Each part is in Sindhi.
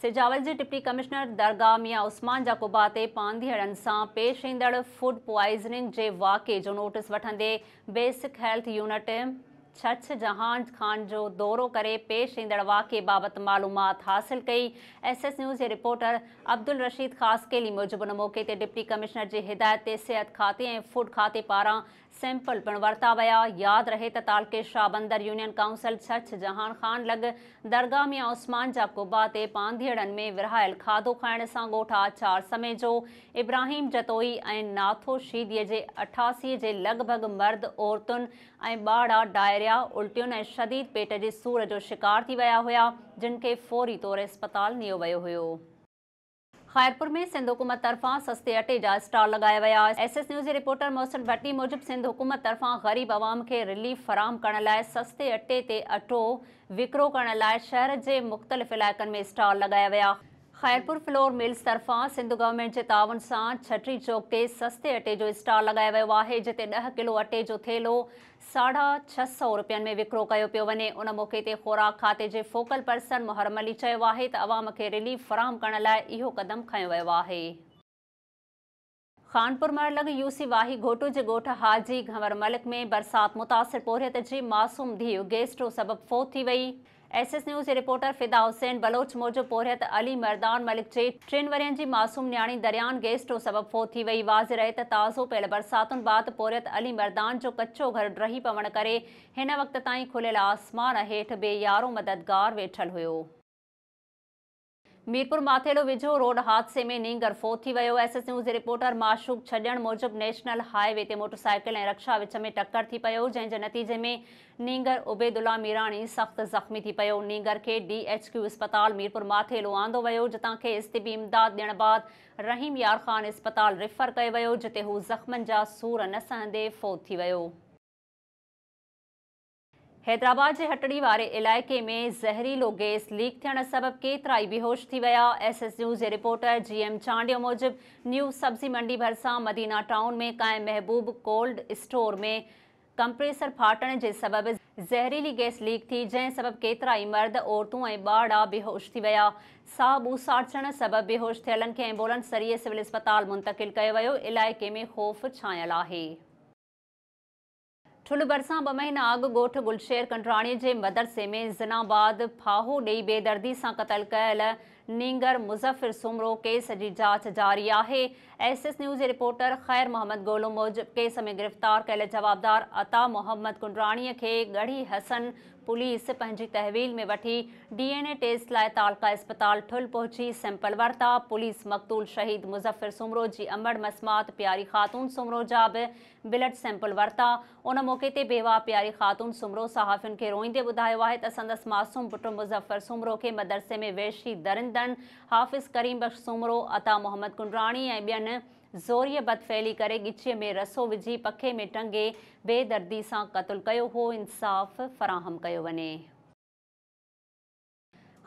سجاول جي ڊپٽي ڪمشنر درگاهه ميان عثمان جا قبا تي پانڌيئڙن سان پيش ايندڙ فوڊ پوائزننگ جي واقعي جو نوٽيس وٺندي basic health unit Chachh Jahan Khan جو دورو ڪري پيش ايندڙ واقعي بابت معلومات حاصل ڪئي، ايس ايس نيوز جي رپورٽر عبدالرشيد خاصخيلي موجب ان موقعي تي ڊپٽي ڪمشنر جي هدايت تي صحت کاتي ۽ فوڊ کاتي پاران سيمپل پڻ ورتا ويا، ياد رهي ته تعلقي شاهبندر يونين ڪائونسل ڇڇ جهان خان لڳ درگاهه ميان عثمان جا قبا تي پانڌيئڙن ۾ ورهايل کاڌو کائڻ سان ڳوٺ آچار سميجو، ابراهيم جتوئي ۽ ناٿو شيدي جي اٺاسي جي لڳ ڀڳ مرد عورتن ۽ ٻاڙا ڊائريا، الٽين ۽ شديد پيٽ جي سور جو شڪار ٿي ويا هيا، جن کي فوري طور اسپتال نيو ويو هيو. خيرپور ۾ سنڌ حڪومت طرفان سستي اٽي جا اسٽال لڳايا ويا. ايس ايس نيوز جي رپورٽر محسن ڀٽي موجب سنڌ حڪومت طرفان غريب عوام کي رليف فراهم ڪرڻ لاء سستي اٽي تي اٽو وڪرو ڪرڻ لاء شهر جي مختلف علائقن ۾ اسٽال لڳايا ويا. خيرپور فلور ملز طرفان سنڌ گورنمينٽ جي تعاون سان ڇٽري چوڪ تي سستي اٽي جو اسٽال لڳايو ويو آهي جتي ڏهه ڪلو اٽي جو ٿيلهو ساڍا ڇهه سئو روپين ۾ وڪرو ڪيو پيو وڃي ان موقعي تي خوراڪ کاتي جي فوڪل پرسن محرم علي چيو آهي ته عوام کي رليف فراهم ڪرڻ لاء اهو قدم کنيو ويو آهي. خانپور مهڙ لڳ يو سي واهي گهوٽو جي ڳوٺ حاجي گهنور ملڪ ۾ برسات متاثر پورهيت جي معصوم ڌيء گيسٽرو سبب فوت ٿي وئي. ايس ايس نيوز جي رپورٽر فدا حسين بلوچ موجب پورهيت علي مردان ملڪ جي ٽن ورهين جي معصوم نياڻي دريان گيسٽرو سبب فوت ٿي وئي. واضح رهي ته تازو پيل برساتن بعد پورهيت علي مردان جو ڪچو گهر ڊهي پوڻ ڪري هن وقت تائين کليل آسمان هيٺ بي يارو مددگار ويٺل هيو. ميرپور ماٿيلو ويجهو روڊ حادثي ۾ نينگر فوت ٿي ويو، ايس ايس نيوز جي رپورٽر معشوق ڇڄڻ موجب نيشنل هاء وي تي موٽرسائيڪل ۽ رڪشا وچ ۾ ٽڪر ٿي پيو جنهن جي نتيجي ۾ نينگر عبيدالله ميراڻي سخت زخمي ٿي پيو نينگر کي ڊي ايڇ ڪيو اسپتال ميرپور ماٿيلو آندو ويو جتان کيس طبي امداد ڏيڻ بعد رحيم يار خان اسپتال ريفر ڪيو ويو جتي هو زخمن جا سور نه سهندي فوت ٿي ويو. حيدرآباد جي هٽڙي واري علائقي ۾ زهريلو گيس ليڪ ٿيڻ سبب ڪيترائي بيهوش ٿي ويا، ايس ايس نيوز جي رپورٽر جي ايم چانڊيو موجب نيو سبزي منڊي ڀرسان مدينه ٽائون ۾ قائم محبوب ڪولڊ اسٽور ۾ ڪمپريسر ڦاٽڻ جي سبب زهريلي گيس ليڪ ٿي جنهن سبب ڪيترائي مرد، عورتون ۽ ٻارڙا بيهوش ٿي ويا، ساهه ٻوساٽجڻ سبب بيهوش ٿيلن کي ايمبولنس ذريعي سول اسپتال منتقل ڪيو ويو، علائقي ۾ خوف ڇانيل آهي. ٺلهه ڀرسان ٻه مهينا اڳ ڳوٺ گلشير ڪنڊراڻي جي مدرسي ۾ زنا بعد ڦاهو ڏئي بي دردي سان قتل ڪيل نينگر مظفر سومرو ڪيس جي جاچ جاري آهي ايس ايس نيوز جي رپورٽر خير محمد گولو موجب ڪيس ۾ گرفتار ڪيل جوابدار عطا محمد ڪنڊراڻي کي ڳڙهي حسن پوليس پنهنجي تحويل ۾ وٺي ڊي اين اي ٽيسٽ لاء تعلقه اسپتال ٺل پهچي سيمپل ورتا پوليس مقتول شهيد مظفر سومرو جي امڙ مسمات پياري خاتون سومرو جا به بلڊ سيمپل ورتا، ان موقعي تي بيواهه پياري خاتون سومرو صحافين کي روئيندي ٻڌايو آهي ته سندس معصوم پٽ مظفر سومرو کي مدرسي ۾ وحشي درندن حافظ ڪريم بخش سومرو، عطا محمد ڪنڊراڻي ۽ ٻين زوريء بدفعلي ڪري ڳچيء ۾ رسو وجهي پکي ۾ ٽنگي بي دردي سان قتل ڪيو هو، انصاف فراهم ڪيو وڃي.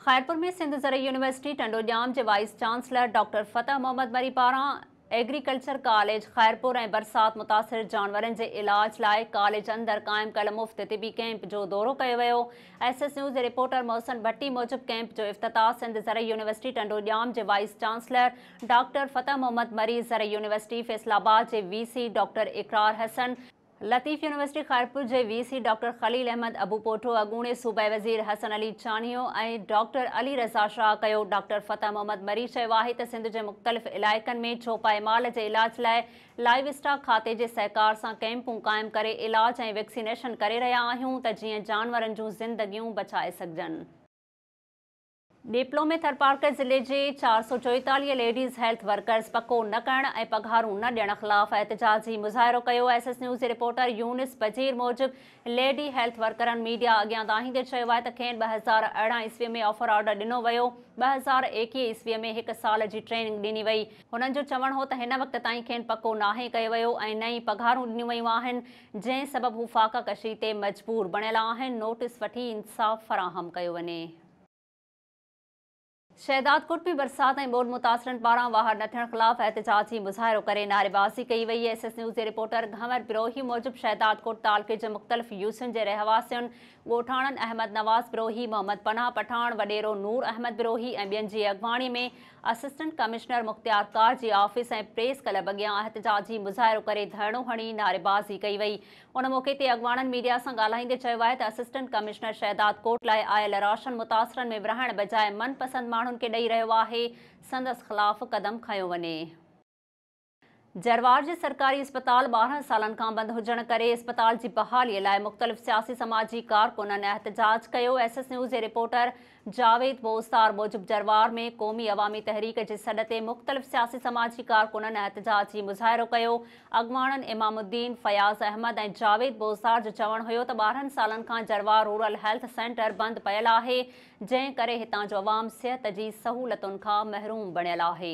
خيرپور ۾ سنڌ زرعي يونيورسٽي ٽنڊو ڄام جي vice chancellor doctor Fateh Muhammad Mari پاران ايگريڪلچر ڪاليج خيرپور ۽ برسات متاثر جانورن جي علاج لاء ڪاليج اندر قائم ڪيل مفت طبي ڪيمپ جو دورو ڪيو ويو ايس ايس نيوز جي رپورٽر محسن ڀٽي موجب ڪيمپ جو افتتاح سنڌ زرعي يونيورسٽي ٽنڊو ڄام جي vice chancellor doctor Fateh Muhammad Mari زرعي يونيورسٽي فيصل آباد جي V C doctor Iqrar Hassan Latif university Khairpur جي V C doctor Khalil Ahmed Abupoto, اڳوڻي صوبائي وزير حسن علي چانيو ۽ ڊاڪٽر علي رضا شاهه ڪيو. ڊاڪٽر فتح محمد مري چيو آهي ته سنڌ جي مختلف علائقن ۾ چوپائي مال جي علاج لاء لائيو اسٽاڪ کاتي جي سهڪار سان ڪئمپون قائم ڪري علاج ۽ ويڪسينيشن ڪري رهيا آهيون ته جيئن جانورن جون زندگيون بچائي سگهجن. ڏيپلو ۾ ٿرپارڪر ضلعي جي چار سؤ چوئيتاليهه ليڊيز هيلٿ ورڪرز پڪو نه ڪرڻ ۽ پگهارون نه ڏيڻ خلاف احتجاجي مظاهرو ڪيو ايس ايس نيوز جي رپورٽر يونس بجير موجب ليڊي هيلٿ ورڪرن ميڊيا اڳيان دانهيندي چيو آهي ته کين ٻه هزار ارڙهن عيسوي ۾ آفر آرڊر ڏنو ويو ٻه هزار ايڪيهه عيسوي ۾ هڪ سال جي ٽريننگ ڏني وئي هنن جو چوڻ هو ته هن وقت تائين کين پڪو ناهي ڪيو ويو ۽ نه ئي پگهارون ڏنيون ويون آهن جنهن سبب هو فاقه ڪشي تي مجبور بڻيل آهن نوٽس وٺي انصاف فراهم ڪيو وڃي. شهدادڪوٽ ۾ برسات ۽ ٻوڏ متاثرن پاران واهر نه ٿيڻ خلاف احتجاجي مظاهرو ڪري نعريبازي ڪئي وئي ايس ايس نيوز جي رپورٽر گهنور بروهي موجب شهدادڪوٽ تعلقي جي مختلف يوسين جي رهواسين ڳوٺاڻن احمد نواز بروهي محمد پناهه پٺاڻ وڏيرو نور احمد بروهي ۽ ٻين جي اڳواڻي ۾ اسسٽنٽ ڪمشنر مختيار ڪار جي آفيس ۽ پريس ڪلب اڳيان احتجاجي مظاهرو ڪري ڌرڻو هڻي نعريبازي ڪئي وئي ان موقعي تي اڳواڻن ميڊيا سان ڳالهائيندي چيو آهي ته اسسٽنٽ ڪمشنر شهداد ڪوٽ لاء آيل راشن متاثرن ۾ ورهائڻ بجاء من پسند ماڻهن کي ڏئي رهيو آهي، سندس خلاف قدم کنيو وڃي. جروار جي سرڪاري اسپتال ٻارهن سالن کان بند هجڻ ڪري اسپتال جي بحالي لاء مختلف سياسي سماجي ڪارڪنن احتجاج ڪيو، ايس ايس نيوز جي رپورٽر جاويد بوستار موجب جروار ۾ قومي عوامي تحريڪ جي سڏ تي مختلف سياسي سماجي ڪارڪنن احتجاجي مظاهرو ڪيو، اڳواڻن امام الدين، فياض احمد ۽ جاويد بوستار جو چوڻ هيو ته ٻارهن سالن کان جروار رورل هيلٿ سينٽر بند پيل آهي جنهن ڪري هتان جو عوام صحت جي سهولتن کان محروم بڻيل آهي.